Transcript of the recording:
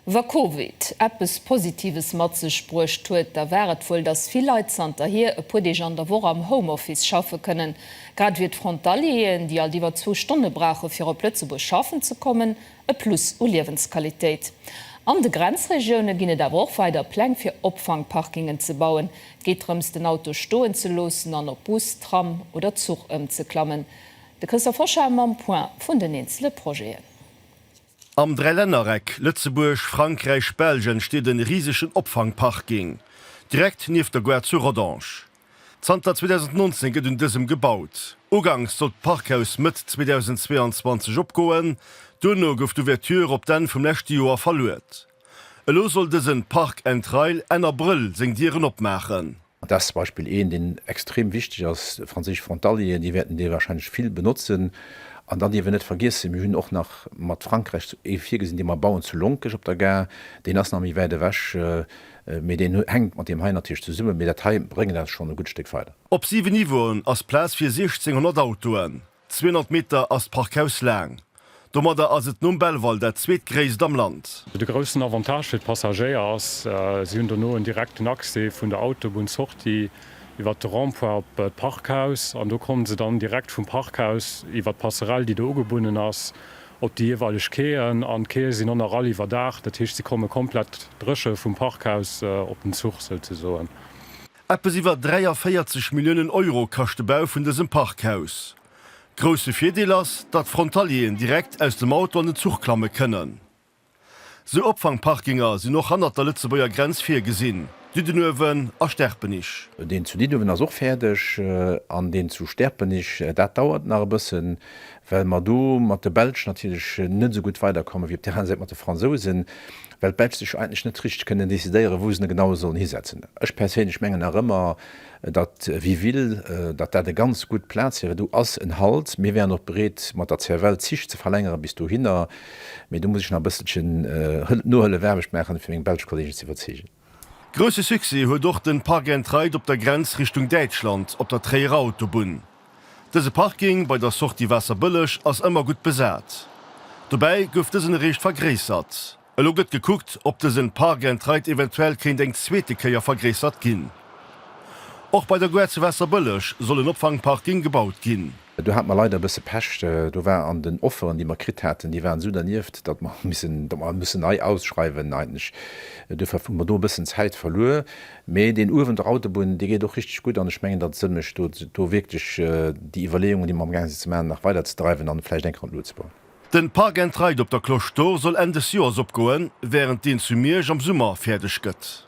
Wa Covid eppes Positives mat sech bruecht huet, da war et wuel, dass vill Leit zanterhier e puer Deeg an der Woch am Homeoffice schaffe kënnen. Grad wier d'Frontalieren, déi alt iwwer zwou Stonne brauche fir op Lëtzebuerg schaffen ze kommen, e Plus u Liewensqualitéit. An de Grenzregioune ginn et awer och weider Pläng fir Opfangparkingen ze bauen. Et geet drëms, den Auto stoen ze loossen an op Bus, Tram oder Zuch ëmzeklammen. De Christophe Hoschar mam Point vun den eenzele Projeten. Am Dräilännereck Lëtzebuerg, Frankräich, Belsch entsteet en risegen Opfangparking direkt nieft der Gare zu Rodange. Zanter 2019 gëtt un dësem gebaut. Uganks sollt d'Parkhaus Mëtt 2022 opgoen, duerno gouf d'Ouverture op d'Enn vum leschte Joer verluet. Elo soll dësen Park and Rail Enn Abrëll seng Dieren opmaachen. Dat zum Beispill een, deen extrem wichteg ass, franséisch Frontalieren, déi wäerten dee wahrscheinlech vill benotzen. An dann dierf een net vergiessen, mir hunn och nach mat Frankräich ee virgesinn, dee mer bauen zu Lonkech op der Gare. Deen ass nach méi wäit ewech, mee deen hänkt mat deem hei natierlech zesummen. Mee dat hei bréngt eis schonn e gutt Stéck weider. Op siwe Niveauen ass Plaz fir 1.600 Autoen. 200 Meter ass d'Parkhaus laang. Domadder ass et nom Belval dat zweetgréisst am Land. De groussen Avantage fir d'Passagéier ass, si hunn dono en direkten Accès vun der Autobunn-Sortie iwwer de Rond-point op d'Parkhaus an do komme se dann direkt vum Parkhaus iwwer d'Passerell, déi do ugebunnen ass, op déi jeeweileg Quaien. An d'Quaie sinn och nach all iwwerdaacht, dat heescht, se komme komplett dréche vum Parkhaus op den Zuch souzesoen. Eppes iwwer 43 Milliounen Euro kascht de Bau vun dësem Parkhaus. Grousse Virdeel ass, datt Frontalieren direkt aus dem Auto an den Zuch klamme kënnen. Sou Opfangparkinger sinn och hannert der Lëtzebuerger Grenz virgesinn, Diddenuewen a Sterpenich. Deen zu Diddenuewen ass och fäerdeg an deen zu Sterpenich, dat dauert nach e bëssen, well mer do mat de Belsch natierlech net esou gutt weiderkommen, wéi op der aner Säit mat de Fransousen. well d'Belsch sech eigentlech net richteg kënnen decidéieren, wou se en genau sollen hisetzen. Ech perséinlech mengen nach ëmmer, datt Wiville, datt dat e ganz gutt Plaz wier. Et do ass en Halt, mir wäeren och bereet mat der CFL d'Zich ze verlängeren bis dohinner, mee do muss ech nach e bësselchen Nohëllefaarbecht maachen, fir meng belsch Kolleegen ze iwwerzeegen. Grousse Succès huet och den Park and Ride op der Grenz Richtung Däitschland op der Tréierer Autobunn. Dëse Parking bei der Sortie Waasserbëlleg ass ëmmer gutt besat. Dobäi gouf dësen eréischt vergréissert. Elo gëtt gekuckt, ob dësen Park and Ride eventuell kéint eng zweete Kéier vergréissert ginn. Och bei der Gare zu Waasserbëlleg soll en Opfangparking gebaut ginn. Do hate mer leider e bësse Pech. Do war an den Offeren, déi mer kritt haten, déi waren esou dernieft, datt mer missen, datt mer mussen nei ausschreiwen eigentlech. Duerfir hu mer do e bëssen Zäit verluer. Mee deen uewen, der Autobunn, dee geet och richteg gutt an ech mengen, datt et Sënn mécht, do wierklech déi Iwwerleeungen, déi mer am gaange sinn ze maachen, nach weiderzedreiwen an vläicht eng Kéier an d'Luucht ze bauen. Den Park and Ride op der Cloche d'Or soll Enn des Joers opgoen, wärend deen zu Miersch am Summer fäerdeg gëtt.